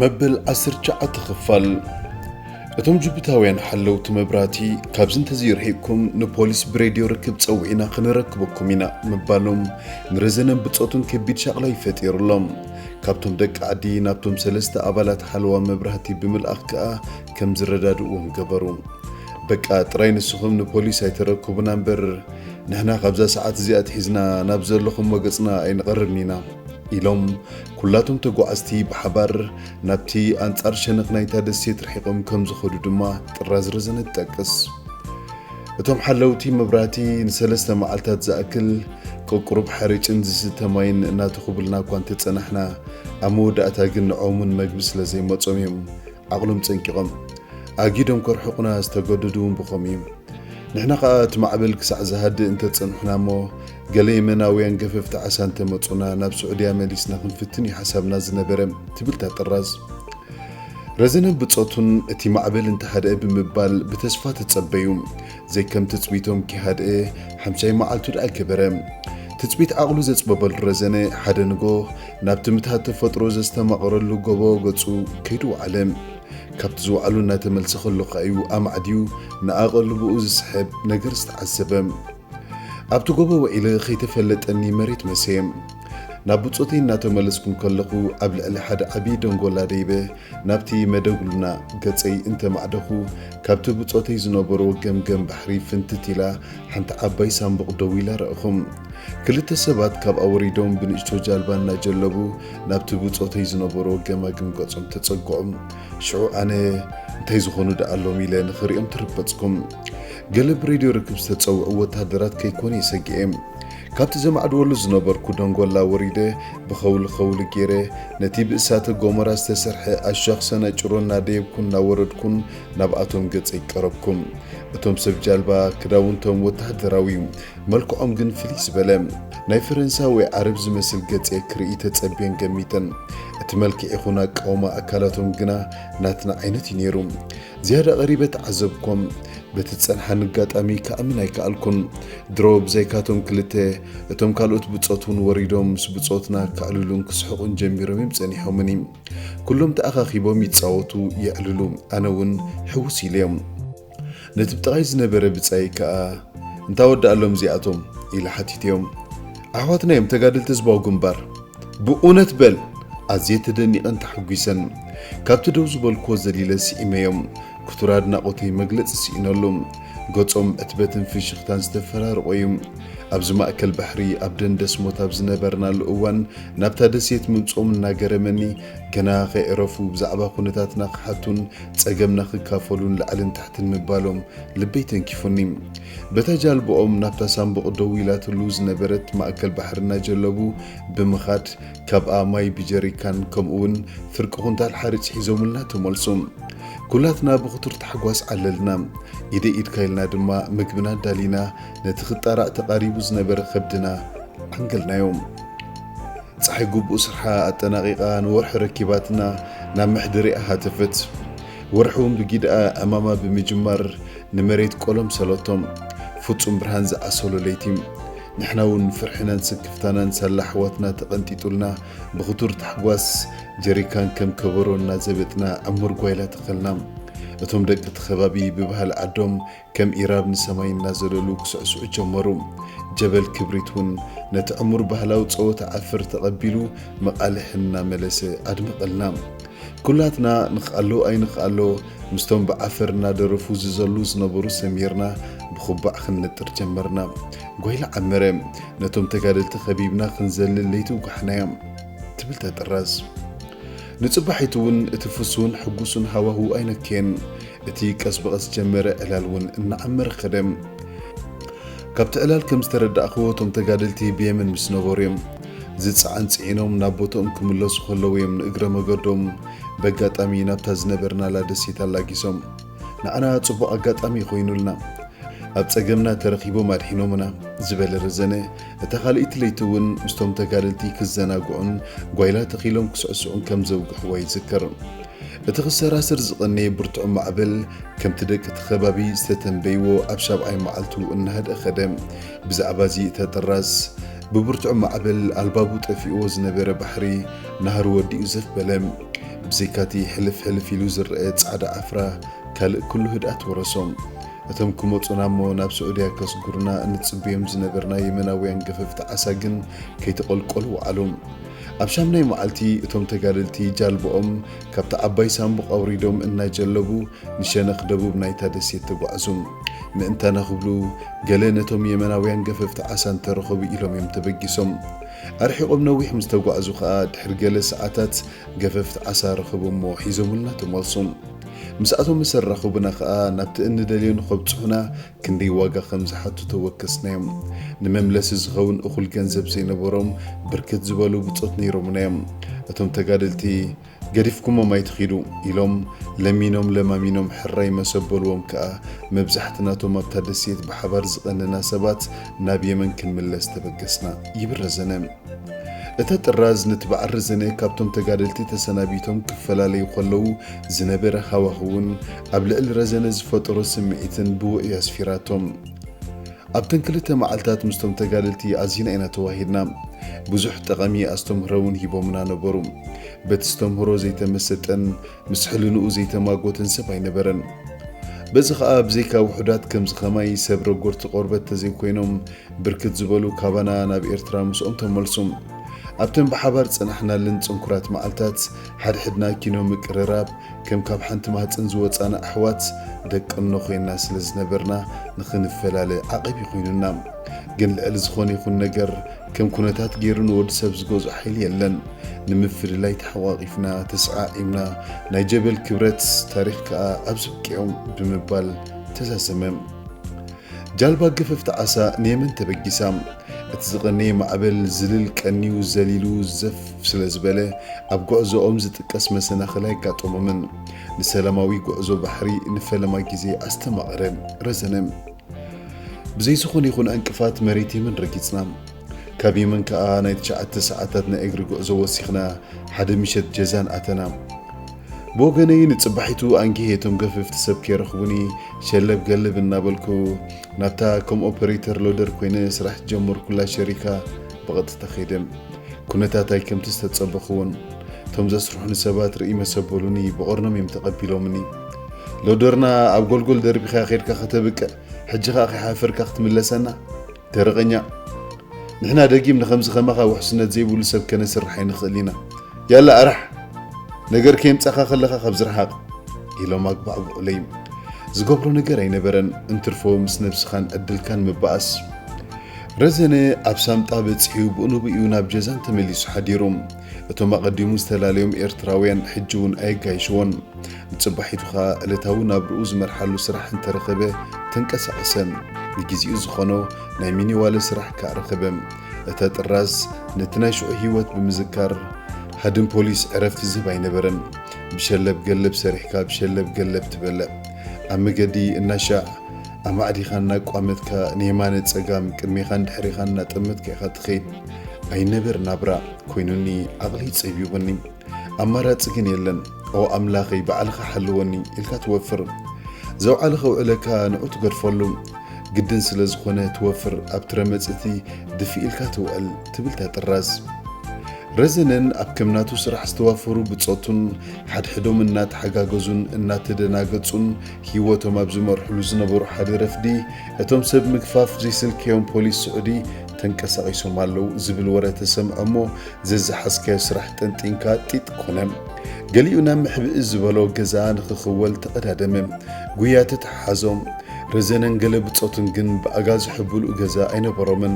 መበል ዓሰርተ ትሽዓተ ኽፋል እቶም ጅቡታውያን ሓለውቲ መብራህቲ ካብዚ እንተዘይርሒቕኩም ንፖሊስ ብሬድዮ ርክብ ጸዊዕና ክንረክበኩም ኢና ምባሎም ንረዘነን ብጾቱን ከቢድ ሻቕላ እዩ ፈጢሩሎም። ካብቶም ደቂ ዓዲ ናብቶም ሰለስተ ኣባላት ሓለዋ መብራህቲ ብምልኣኽ ከኣ ከም ዝረዳድእዎም ገበሩ። በቃ ጥራይ ንስኹም ንፖሊስ ኣይተረክቡና እምበር ንሕና ካብዛ ሰዓት እዚኣ ኣትሒዝና ናብ ዘለኹሞ ገጽና ኣይንቐርብን ኢና ኢሎም ኩላቶም ተጓዓዝቲ ብሓባር ናብቲ ኣንጻር ሸነኽ ናይታ ደሴት ርሒቖም ከም ዝኸዱ ድማ ጥራዝ ረዘነ ትጠቅስ። እቶም ሓለውቲ መብራህቲ ንሰለስተ መዓልታት ዝኣክል ቅቁሩብ ሓርጭን ዝስተ ማይን እናተኹብልና እኳ እንተጸናሕና፣ ኣብ መወዳእታ ግን ንዖምን መግቢ ስለ ዘይመጾም እዮም ዓቕሎም ጸንቂቖም ኣጊዶም ከርሕቑና ዝተገደዱ እውን ብኸምኡ እዩ። ንሕና ኸኣ እቲ ማዕበል ክሳዕ ዝሃድእ እንተ ጸንሕና እሞ ገለ የመናውያን ገፈፍቲ ዓሳ እንተ መጹና ናብ ስዑድያ መሊስና ክንፍትን እዩ ሓሳብና ዝነበረ ትብል እታ ጥራዝ። ረዘነን ብጾቱን እቲ ማዕበል እንተ ሃድኣ ብምባል ብተስፋ ተጸበዩ። ዘይከም ትጽቢቶም ኪሃድኤ ሓምሻይ መዓልቱ ደኣ ከበረ። ትጽቢት ዓቕሉ ዘጽበበሉ ረዘነ ሓደ ንጎ ናብቲ ምትሃት ተፈጥሮ ዘስተማቕረሉ ጎቦ ገጹ ከይዱ ወዓለ። ካብቲ ዝወዓሉ እናተመልሰ ከሎ ከኣ'ዩ ኣማዕድዩ ንኣቐልቦኡ ዝስሕብ ነገር ዝተዓዘበ። ኣብቲ ጎቦ ውዒለ ከይተፈለጠኒ መሬት መሰየ። ናብ ብጾተይ እናተመለስኩ እንከለኹ ኣብ ልዕሊ ሓደ ዓቢ ደንጎላ ደይበ ናብቲ መደጉልና ገጸይ እንተ ማዕደኹ፣ ካብቲ ብጾተይ ዝነበሮ ገምገም ባሕሪ ፍንትት ኢላ ሓንቲ ዓባይ ሳንቡቕ ደው ኢላ ረኣኹ። ክልተ ሰባት ካብኣ ወሪዶም ብንእሽቶ ጃልባ እናጀለቡ ናብቲ ብጾተይ ዝነበሮ ገማግም ገጾም ተጸግዑ። ሽዑ ኣነ እንታይ ዝኾኑ ደኣ ኣሎም ኢለ ንኽርእዮም ተረበጽኩ። ገለ ብሬድዮ ርክብ ዝተጸውዑ ወተሃደራት ከይኮኑ እየ ሰጊኤ። ካብቲ ዘማዕድወሉ ዝነበርኩ ደንጎላ ወሪደ ብኸውሊ ኸውሊ ገይረ ነቲ ብእሳተ ጎመራ ዝተሰርሐ ኣሻኽሰና ጭሮ እናደየብኩን እናወረድኩን ናብኣቶም ገፀይ ቀረብኩ። እቶም ሰብ ጃልባ ክዳውንቶም ወታሃደራዊ እዩ፣ መልክዖም ግን ፍልይ ዝበለ ናይ ፈረንሳ ወይ ዓረብ ዝመስል ገፀ ክርእይ ተፀብየን ገሚተን። እቲ መልክዕ ይኹን ኣቃውማ ኣካላቶም ግና ናትና ዓይነት እዩ ነይሩ። ዝያዳ ቀሪበ ተዓዘብኮም፣ በቲ ዝጸንሓኒ ኣጋጣሚ ክኣምን ኣይከኣልኩን። ድሮ ብዘይካቶም ክልተ፣ እቶም ካልኦት ብጾት እውን ወሪዶም ምስ ብጾትና ከዕልሉን ክስሕቑን ጀሚሮም እዮም ጸኒሖምኒ። ኩሎም ተኣኻኺቦም ይጻወቱ፣ የዕልሉ፣ ኣነ እውን ሕውስ ኢለዮም። ነቲ ብጥቓይ ዝነበረ ብጻየይ ከኣ፣ እንታ ወዳእሎም እዚኣቶም? ኢለ ሓቲተዮም። ኣሕዋትና እዮም፣ ተጋደልቲ ህዝባዊ ግንባር። ብኡነት በል ኣዝየ ተደኒቐን ተሓጒሰን ካብቲ ደው ዝበልክዎ ዘሊለ ስኢመዮ ክቱር ኣድናቖተይ መግለጺ ስኢነሉ ገጾም ዕትበትን ፍሽኽታን ዝተፈራርቖ እዩ ኣብዚ ማእከል ባሕሪ ኣብ ደንደስሞት ኣብ ዝነበርናሉ እዋን ናብታ ደሴት ምምጽኦም እናገረመኒ ገና ከይዕረፉ ብዛዕባ ኩነታትና ክሓቱን ጸገምና ክካፈሉን ላዕልን ታሕትን ምባሎም ልበይ ተንኪፉኒ በታ ጃልባኦም ናብታ ሳንቡቕ ደው ኢላትሉ ዝነበረት ማእከል ባሕሪ እናጀለቡ ብምኻድ፣ ካብኣ ማይ ብጀሪካን ከምኡ'ውን ፍርቂ ኩንታል ሓርጭ ሒዞምልና ተመልሱ። ኩላትና ብኽቱር ታሕጓስ ዓለልና። ኢደይ ኢድካ ኢልና ድማ ምግብና ኣዳሊና ነቲ ክጣራዕ ተቓሪቡ ዝነበረ ከብድና ዓንገልናዮ። ጸሓይ ግቡእ ስርሓ ኣጠናቒቓ ንወርሒ ረኪባትና ናብ መሕደሪኣ ሃተፈት። ወርሒ'ውን ብጊደኣ ዕማማ ብምጅማር ንመሬት ቆሎም ሰሎቶም ፍጹም ብርሃን ዝኣሰሎ ለይቲ ንሕና ውን ፍርሕናን ስክፍታናን ሳላ ኣሕዋትና ተቐንጢጡልና ብኽቱር ታሕጓስ ጀሪካን ከም ከበሮ እናዘበጥና ዕሙር ጓይላ ተኸልና እቶም ደቂ እቲ ከባቢ ብባህሊ ዓዶም ከም ኢራብ ንሰማይ እናዘለሉ ክስዕስዑ ጀመሩ ጀበል ክብሪት ውን ነቲ ዕሙር ባህላዊ ጸወታ ዓፍር ተቐቢሉ መቓልሕ እናመለሰ ኣድመቐልና ኩላትና ንክኣሎ ኣይንክኣሎ ምስቶም ብዓፈር እናደረፉ ዝዘሉ ዝነበሩ ሰሚርና ብኩባዕ ክንነጥር ጀመርና። ጓይላ ዓመረ ነቶም ተጋደልቲ ከቢብና ክንዘልል ለይቲ ውጋሕናያ ትብል ተጥረስ። ንጽባሒቱ'ውን እቲ ፍሱን ሕጉሱን ሃዋህው ኣይነከየን። እቲ ቀስ ብቐስ ዝጀመረ ዕላል'ውን እናዓመረ ከደ። ካብቲ ዕላል ከም ዝተረዳእክዎ እቶም ተጋደልቲ ብየመን ምስ ነበሩ'ዮም። ዝጸዓን ጽዒኖም ናብ ቦትኦም ክምለሱ ከለዉ እዮም ንእግረ መገዶም በጋጣሚ ናብታ ዝነበርናላ ደሴት ኣላጊሶም። ንዓና ጽቡቕ ኣጋጣሚ ኮይኑልና። ኣብ ጸገምና ተረኺቦም ኣድሒኖምና ዝበለ ረዘነ፣ እታ ካልኣይቲ ለይቲ እውን ምስቶም ተጋደልቲ ክዘናግዑን ጓይላ ተኺሎም ክስዕስዑን ከም ዘውግሕዋ ይዝክር። እቲ ክሰራስር ዝቐነየ ብርቱዕ ማዕበል፣ ከምቲ ደቂ'ቲ ከባቢ ዝተተንበይዎ ኣብ ሻብዓይ መዓልቱ እናሃድኣ ከደ። ብዛዕባ እዚ እተጥራዝ ብብርቱዕ ማዕበል ኣልባቡ ጠፊእዎ ዝነበረ ባሕሪ ናህሪ ወዲኡ ዘፍ በለ። ብዘይካቲ ሕልፍ ሕልፍ ኢሉ ዝረኣ ጻዕዳ ዓፍራ ካልእ ኩሉ ህድኣት ወረሶ። እቶም ክመጹና እሞ ናብ ስዑድያ ከስጉሩና እንጽበዮም ዝነበርና የመናውያን ገፈፍቲ ዓሳ ግን ከይተቐልቀሉ ወዓሉ። ኣብ ሻምናይ መዓልቲ እቶም ተጋደልቲ ጃልባኦም ካብታ ዓባይ ሳንቡቕ ኣውሪዶም እናጀለቡ ንሸነኽ ደቡብ ናይታ ደሴት ተጓዕዙ። ምእንታና ክብሉ ገለ ነቶም የመናውያን ገፈፍቲ ዓሳ እንተ ረኸቡ ኢሎም እዮም ተበጊሶም። ኣርሒቖም ነዊሕ ምስ ተጓዕዙ ከኣ ድሕሪ ገለ ሰዓታት ገፈፍቲ ዓሳ ረኸቡ እሞ ሒዞሙልና ተመልሱ። ምስኣቶም ምስ ኣራኸቡና ከኣ ናብቲ እንደልዮ ንኸብጽሑና ክንደይ ዋጋ ከም ዝሓቱ ተወከስናዮም። ንመምለሲ ዝኸውን እኹል ገንዘብ ዘይነበሮም ብርክት ዝበሉ ብጾት ነይሮሙና እዮም። እቶም ተጋደልቲ። ገዲፍኩሞም ኣይትኺዱ ኢሎም ለሚኖም ለማሚኖም ሕራይ መስ ኣበሉዎም ከኣ መብዛሕትናቶም ኣብታ ደሴት ብሓባር ዝቐነና ሰባት ናብ የመን ክንምለስ ተበገስና ይብል ረዘነ። እታ ጥራዝ ነቲ በዓል ረዘነ ካብቶም ተጋደልቲ ተሰናቢቶም ክፈላለዩ ከለዉ ዝነበረ ሃዋህውን ኣብ ልዕሊ ረዘነ ዝፈጠሮ ስምዒትን ብውዑይ ኣስፊራቶ። ኣብተን ክልተ መዓልታት ምስቶም ተጋደልቲ ኣዚና ኢና ተዋሂድና። ብዙሕ ጠቐሚ ኣስተምህሮ እውን ሂቦምና ነበሩ። በቲ ዝተምህሮ ዘይተመሰጠን ምስ ሕልንኡ ዘይተማጎተን ሰብ ኣይነበረን። በዚ ከኣ ብዘይካ ውሑዳት ከምዚ ከማይ ሰብ ረጎርቲ ቆርበት ተዘይኮይኖም ብርክት ዝበሉ ካባና ናብ ኤርትራ ምስኦም ተመልሱ። ኣብተን ብሓባር ዝጸናሕናለን ጽንኩራት መዓልታት፣ ሓድሕድና ኪኖ ምቅርራብ፣ ከም ካብ ሓንቲ ማህጸን ዝወጻና ኣሕዋት ደቀኖ ኮይንና ስለ ዝነበርና ንኽንፈላለ ዓቐብ ኮይኑና። ግን ልዕሊ ዝኾነ ይኹን ነገር ከም ኩነታት ገይሩ ንወዲ ሰብ ዝገዝኦ ሓይሊ የለን። ንምፍልላይ ተሓቋቒፍና፣ ተሰዓዒምና፣ ናይ ጀበል ክብረት፣ ታሪኽ ከኣ ኣብዚ ኣብቂዑ ብምባል ተዛዘመ። ጃልባ ግፍፍቲ ዓሳ ንየመን ተበጊሳ። እቲ ዝቐነየ ማዕበል ዝልል ቀንዩ ዘሊሉ ዘፍ ስለ ዝበለ፣ ኣብ ጉዕዞኦም ዝጥቀስ መሰናኽል ኣይጋጠሞምን። ንሰላማዊ ጉዕዞ ባሕሪ ንፈለማ ግዜ ኣስተማቐረ። ረዘነ። ብዘይ ዝኾነ ይኹን ዕንቅፋት መሬት የመን ረጊጽና። ካብ የመን ከኣ ናይ ትሽዓተ ሰዓታት ናይ እግሪ ጉዕዞ ወሲኽና ሓደ ምሸት ጀዛን ኣተና። ብወገነይ ንጽባሒቱ ኣንጊሄ እቶም ገፈፍቲ ሰብ ከይረኽቡኒ ሸለብ ገልብ እናበልኩ ናብታ ከም ኦፐሬተር ሎደር ኮይነ ስራሕ ዝጀመርኩላ ሸሪካ ብቐጥታ ከይደ። ኩነታት ኣይከምቲ ዝተጸበኽዎን። እቶም ዘስርሑኒ ሰባት ርእይ መሰበሉኒ ብቐርኖም እዮም ተቐቢሎምኒ። ሎደርና ኣብ ጎልጎል ደርቢኻ ከድካ ከተብቅዕ ሕጂ ከኣ ከይሓፈርካ ክትምለሰና? ደረቐኛ ንሕና ደጊም ንከምዚ ከማኻ ውሕስነት ዘይብሉ ሰብ ከነስርሕ ኣይንኽእል ኢና ያላ ኣራሕ ነገር ከየምጻኻ ከለኻ ካብ ዝረሓቕ ኢሎም ኣግባዕብዑለይ ዝገብሮ ነገር ኣይነበረን እንትርፎ ምስ ነብስኻን ዕድልካን ምባኣስ ረዘነ ኣብ ሳምጣ በጺሑ ብኡንብኡ ናብ ጀዛን ተመሊሱ ሓዲሩ እቶም ኣቐዲሙ ዝተላለዮም ኤርትራውያን ሕጂ እውን ኣየጋይሽዎን። ንጽባሒቱ ከኣ ዕለታዊ ናብርኡ ዝመርሓሉ ስራሕ እንተ ረኸበ ተንቀሳቐሰ። ንግዜኡ ዝኾኖ ናይ ሚኒዋለ ስራሕ ከኣ ረኸበ። እታ ጥራዝ ነቲ ናይ ሽዑ ህይወት ብምዝካር ሃድን ፖሊስ ዕረፍቲ ዝህብ ኣይነበረን። ብሸለብ ገለብ ሰሪሕካ ብሸለብ ገለብ ትበልዕ። ኣብ መገዲ እናሻዕ ኣማዕዲኻ እናቋመትካ ንየማነ ጸጋም ቅድሜኻን ድሕሬኻን እናጠመትካ ኢኻ ትኸይድ። ኣይነበር ናብራ ኮይኑኒ ዓቕሊ ጸቢቡኒ ኣማራጺ ግን የለን ኦ ኣምላኸይ ባዕልኻ ሓልወኒ ኢልካ ትወፍር ዘውዓለ ከውዕለካ ንዑ ትገድፈሉ ግድን ስለ ዝኾነ ትወፍር ኣብ ትረመጽቲ ድፊ ኢልካ ትውዕል ትብል ታጥራዝ ረዘነን ኣብ ከምናቱ ስራሕ ዝተዋፈሩ ብጾቱን ሓድሕዶም እናተሓጋገዙን እናተደናገጹን ህይወቶም ኣብ ዝመርሕሉ ዝነበሩ ሓደ ረፍዲ እቶም ሰብ ምግፋፍ ዘይስልከዮም ፖሊስ ስዑዲ ተንቀሳቒሶም ኣለዉ ዝብል ወረ ተሰምዐ እሞ ዘዝሓዝካዮ ስራሕ ጠንጢንካ ጢጥ ኮነ። ገሊኡ ናብ ምሕብኢ ዝበሎ ገዛ ንኽኽወል ተቐዳደመ። ጉያ ተተሓሓዞም። ረዘነን ገለ ብጾቱን ግን ብኣጋ ዝሕብሉ ገዛ ኣይነበሮምን።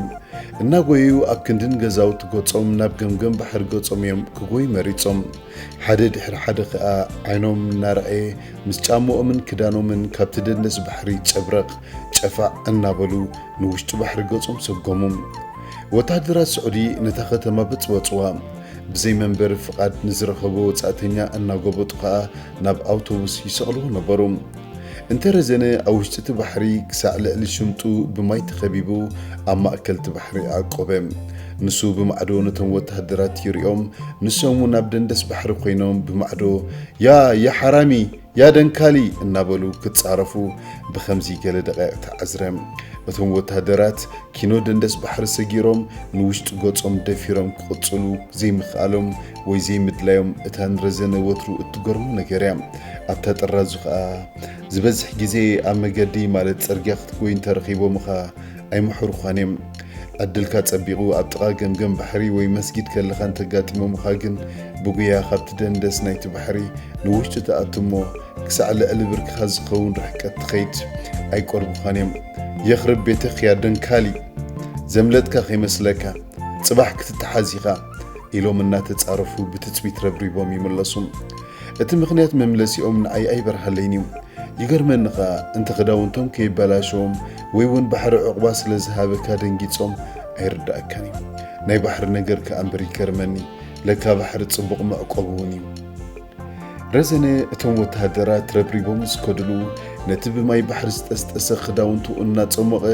እናጎየዩ ኣብ ክንድን ገዛውቲ ገጾም ናብ ገምገም ባሕሪ ገጾም እዮም ክጎዩ መሪጾም። ሓደ ድሕሪ ሓደ ከኣ ዓይኖም እናረኣየ ምስ ጫምኦምን ክዳኖምን ካብቲ ደንደስ ባሕሪ ጨብረቕ ጨፋዕ እናበሉ ንውሽጢ ባሕሪ ገጾም ሰጎሙ። ወተሃደራት ስዑዲ ነታ ከተማ በጽበጽዋ። ብዘይ መንበሪ ፍቓድ ንዝረኸበ ወጻእተኛ እናጎበጡ ከኣ ናብ ኣውቶቡስ ይሰቕልዎ ነበሩ። እንተ ረዘነ ኣብ ውሽጢ እቲ ባሕሪ ክሳዕ ልዕሊ ሽምጡ ብማይ ተኸቢቡ ኣብ ማእከል እቲ ባሕሪ ኣዕቆበ። ንሱ ብማዕዶ ነቶም ወተሃደራት ይሪኦም፣ ንሶም እውን ኣብ ደንደስ ባሕሪ ኮይኖም ብማዕዶ፣ ያ! ያ ሓራሚ! ያ ደንካሊ እናበሉ ክጻረፉ ብኸምዚ ገለ ደቓይቕ ተዓዝረ። እቶም ወተሃደራት ኪኖ ደንደስ ባሕሪ ሰጊሮም ንውሽጢ ገጾም ደፊሮም ክቕጽሉ ዘይምኽኣሎም ወይ ዘይምድላዮም እታ ንረዘነ ወትሩ እትገርሞ ነገር እያ። ኣብታ ጥራዙ ከኣ፣ ዝበዝሕ ግዜ ኣብ መገዲ ማለት ጽርግያ ክትጎይ እንተ ረኺቦምኻ፣ ኣይምሕሩኻን'ዮም። ዕድልካ ጸቢቑ ኣብ ጥቓ ገምገም ባሕሪ ወይ መስጊድ ከለኻ እንተጋጢሞምኻ ግን ብጉያ ካብቲ ደንደስ ናይቲ ባሕሪ ንውሽጢ ትኣቱ'ሞ ክሳዕ ልዕሊ ብርክኻ ዝኸውን ርሕቀት ትኸይድ። ኣይቀርቡኻን'ዮም። የኽርብ ቤትኽ ያ ደንካሊ! ዘምለጥካ ከይመስለካ! ጽባሕ ክትተሓዝ ኢኻ! ኢሎም እናተጻረፉ ብትጽቢት ረብሪቦም ይምለሱ። እቲ ምኽንያት መምለሲኦም ንኣይ ኣይበርሃለይን እዩ። ይገርመኒ ከኣ እንተ ክዳውንቶም ከይበላሸዎም ወይ እውን ባሕሪ ዑቕባ ስለ ዝሃበካ ደንጊጾም ኣይርደኣካን እዩ። ናይ ባሕሪ ነገር ከኣ እምበር ይገርመኒ ለካ ባሕሪ ጽቡቕ መዕቆቢ እውን እዩ። ረዘነ እቶም ወተሃደራት ረብሪቦም ምስ ከድሉ ነቲ ብማይ ባሕሪ ዝጠስጠሰ ክዳውንቱ እናጸሞቐ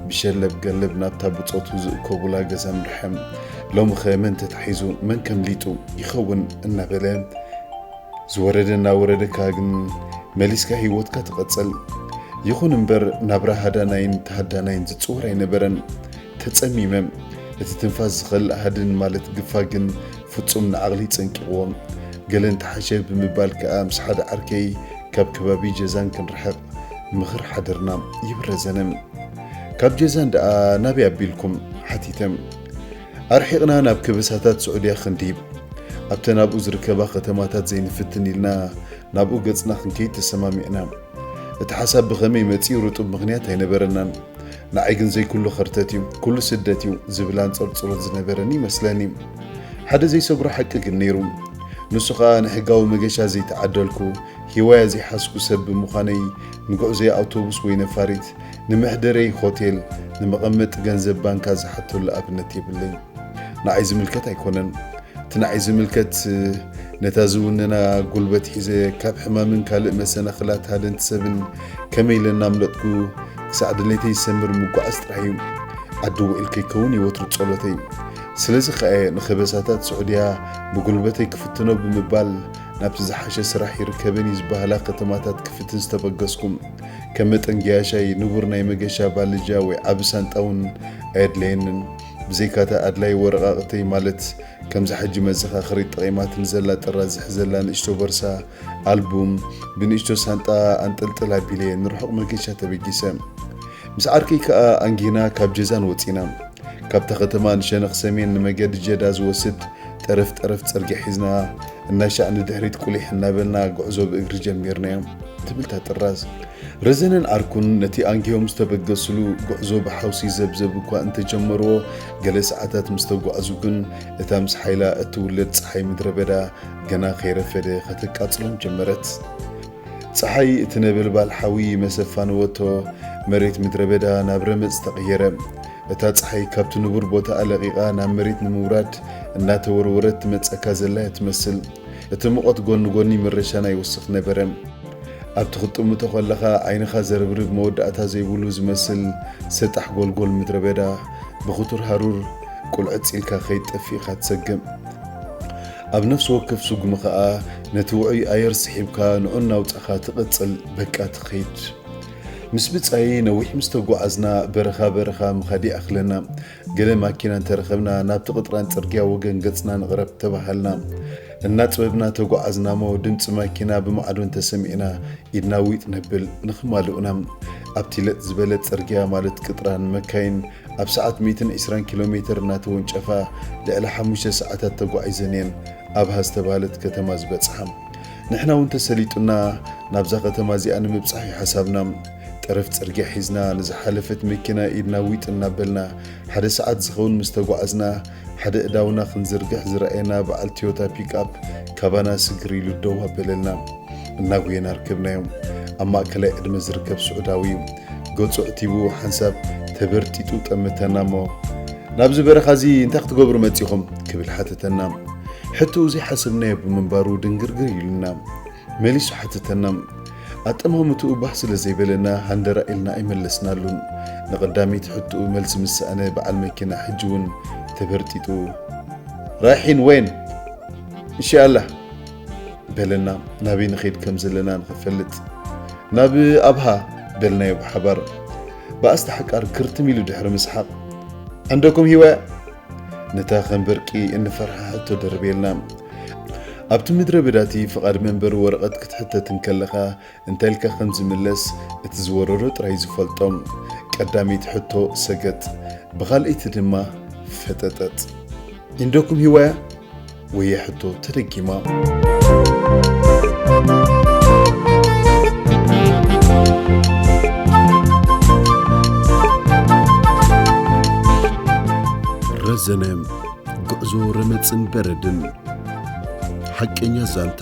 ብሸለብ ገለብ ናብታ ብጾቱ ዝእከቡላ ገዛ ኣምርሐ። ሎምኸ መን ተታሒዙ መን ከምሊጡ ይኸውን እናበለ ዝወረደ እናወረደካ ግን መሊስካ ህይወትካ ትቐፅል። ይኹን እምበር ናብራ ሃዳናይን ተሃዳናይን ዝፅወር ኣይነበረን። ተፀሚመ እቲ ትንፋስ ዝኸልእ ሃድን ማለት ግፋ ግን ፍፁም ንዓቕሊ ፀንቂቕዎ። ገለ እንተሓሸ ብምባል ከዓ ምስ ሓደ ዓርከይ ካብ ከባቢ ጀዛን ክንርሕቕ ምኽር ሓደርና ይብል ረዘነ። ካብ ጀዛን ደኣ ናበይ ኣቢልኩም? ሓቲተ። ኣርሒቕና ናብ ከበሳታት ስዑድያ ክንዲብ፣ ኣብተን ኣብኡ ዝርከባ ከተማታት ዘይንፍትን ኢልና ናብኡ ገጽና ክንከይድ ተሰማሚዕና። እቲ ሓሳብ ብኸመይ መጺኡ ርጡብ ምኽንያት ኣይነበረናን። ንዓይ ግን ዘይኩሉ ከርተት እዩ፣ ኩሉ ስደት እዩ ዝብል ኣንጸርጽሮት ዝነበረኒ ይመስለኒ። ሓደ ዘይሰግሮ ሓቂ ግን ነይሩ። ንሱ ኸኣ ንሕጋዊ መገሻ ዘይተዓደልኩ፣ ሂዋያ ዘይሓዝኩ ሰብ ብምዃነይ ንጉዕዞይ ኣውቶቡስ ወይ ነፋሪት ንመሕደረይ ሆቴል፣ ንመቐመጢ ገንዘብ ባንካ ዝሓተሉ ኣብነት የብለይ። ንዓይ ዝምልከት ኣይኮነን። እቲ ንዓይ ዝምልከት ነታ ዝውንና ጉልበት ሒዘ ካብ ሕማምን ካልእ መሰናኽላት ሃደንቲ ሰብን ከመይ ኢለ እናምለጥኩ ክሳዕ ድሌተይ ዝሰምር ምጉዓዝ ጥራሕ እዩ። ዓዲ ውዒል ከይከውን እዩ ወትሩ ጸሎተይ። ስለዚ ከኣ እየ ንከበሳታት ስዑድያ ብጉልበተይ ክፍትኖ ብምባል ናብቲ ዝሓሸ ስራሕ ይርከበኒ ዝበሃላ ከተማታት ክፍትን ዝተበገስኩ። ከም መጠን ገያሻይ ንቡር ናይ መገሻ ባልጃ ወይ ዓቢ ሳንጣ እውን ኣየድለየንን። ብዘይካ'ታ ኣድላዪ ወረቓቕተይ ማለት ከምዛ ሕጂ መዘኻኸሪት ጠቒማትኒ ዘላ ጥራዝ ዝሕዘላ ንእሽቶ ቦርሳ፣ ኣልቡም፣ ብንእሽቶ ሳንጣ ኣንጠልጥል ኣቢለ'የ ንርሑቕ መገሻ ተበጊሰ። ምስ ዓርከይ ከኣ ኣንጊህና ካብ ጀዛን ወጺእና። ካብታ ከተማ ንሸነኽ ሰሜን ንመገዲ ጀዳ ዝወስድ ጠረፍ ጠረፍ ጽርግያ ሒዝና እናሻዕ ንድሕሪት ቁሊሕ እናበልና ጉዕዞ ብእግሪ ጀሚርናዮ ትብል እታ ጥራዝ። ረዘነን ዓርኩን ነቲ ኣንጊሆም ዝተበገስሉ ጉዕዞ ብሓውሲ ዘብዘብ እኳ እንተ ጀመርዎ፣ ገለ ሰዓታት ምስ ተጓዕዙ ግን እታ ምስ ሓይላ እትውለድ ጸሓይ ምድረ በዳ ገና ከይረፈደ ከተቃጽሎም ጀመረት። ጸሓይ እቲ ነበልባል ሓዊ መሰ ኣፋነወቶ፣ መሬት ምድረ በዳ ናብ ረመጽ ተቐየረ። እታ ጸሓይ ካብቲ ንቡር ቦታኣ ለቒቓ ናብ መሬት ንምውራድ እናተወርወረት ትመጸካ ዘላ እያ ትመስል። እቲ ሙቐት ጎኒ ጎኒ ምረሻና ይውስኽ ነበረ። ኣብቲ ክትጥምቶ ከለኻ ዓይንኻ ዘርብርብ መወዳእታ ዘይብሉ ዝመስል ሰጣሕ ጎልጎል ምድረበዳ ብኽቱር ሃሩር ቁልዕጽ ኢልካ ከይትጠፍእ ኢኻ ትሰግእ። ኣብ ነፍሲ ወከፍ ስጉሚ ከኣ ነቲ ውዑይ ኣየር ስሒብካ ንዑ እናውጻኻ ትቕጽል በቃ ትኸይድ። ምስ ብጻየይ ነዊሕ ምስ ተጓዓዝና በረኻ በረኻ ምኻድ ይኣኽለና። ገለ ማኪና እንተረኸብና ናብቲ ቅጥራን ጽርግያ ወገን ገጽና ንቕረብ ተባሃልና። እናጥበብና ተጓዓዝናሞ ድምጺ ማኪና ብማዕዶ እንተሰሚዕና ኢድና ዊጥ ነብል ንኽማልኡና። ኣብቲ ለጥ ዝበለ ጽርግያ ማለት ቅጥራን መካይን ኣብ ሰዓት ሚእትን ዕስራን ኪሎ ሜተር እናተወንጨፋ ልዕሊ ሓሙሽተ ሰዓታት ተጓዒዘን እየን ኣብሃ ዝተባህለት ከተማ ዝበጽሓ። ንሕና እውን ተሰሊጡና ናብዛ ከተማ እዚኣ ንምብጻሕ እዩ ሓሳብና። ጠረፍ ጽርግያ ሒዝና ንዝሓለፈት መኪና ኢድና ዊጥ እናበልና ሓደ ሰዓት ዝኸውን ምስ ተጓዓዝና ሓደ እዳውና ክንዝርግሕ ዝረኣየና በዓል ትዮታ ፒክኣፕ ካባና ስግር ኢሉ ደው ኣበለልና። እናጎየና ኣርከብናዮ። ኣብ ማእከላይ ዕድመ ዝርከብ ስዑዳዊ እዩ። ገጹ ኣዕቲቡ ሓንሳብ ተበርጢጡ ጠመተና እሞ፣ ናብዚ በረኻ እዚ እንታይ ክትገብሩ መጺኹም? ክብል ሓተተና። ሕቶኡ ዘይሓሰብናዮ ብምንባሩ ድንግርግር ኢሉና። መሊሱ ሓተተና። ኣጠማምትኡ ባህ ስለ ዘይበለና ሃንደራእ ኢልና ኣይመለስናሉን። ንቐዳመይቲ ሕቶኡ መልሲ ምስ ሰኣነ በዓል መኪና ሕጂ እውን ተበርጢጡ። ራይሒን ወይን? እንሻኣላህ! በለና ናበይ ንኸይድ ከም ዘለና ንኽፈልጥ ናብ ኣብሃ በልናዮ ብሓባር ብኣስተ ሓቃር ክርትም ኢሉ ድሕሪ ምስሓቕ ዕንደኩም ሂወ ነታ ከም በርቂ እንፈርሓ ሕቶ ደርቤልና ኣብቲ ምድረ በዳቲ ፍቓድ መንበሪ ወረቐት ክትሕተት እንከለኻ እንተልካ ከም ዝምለስ እቲ ዝወረሮ ጥራይ ዝፈልጦም። ቀዳመይቲ ሕቶ ሰገጥ ብኻልኣይቲ ድማ ፈጠጠጥ። ኢንዶኩም ሂዋያ ወያ ሕቶ ተደጊማ። ረዘነ ጉዕዞ ረመጽን በረድን ሓቀኛ ዛንታ።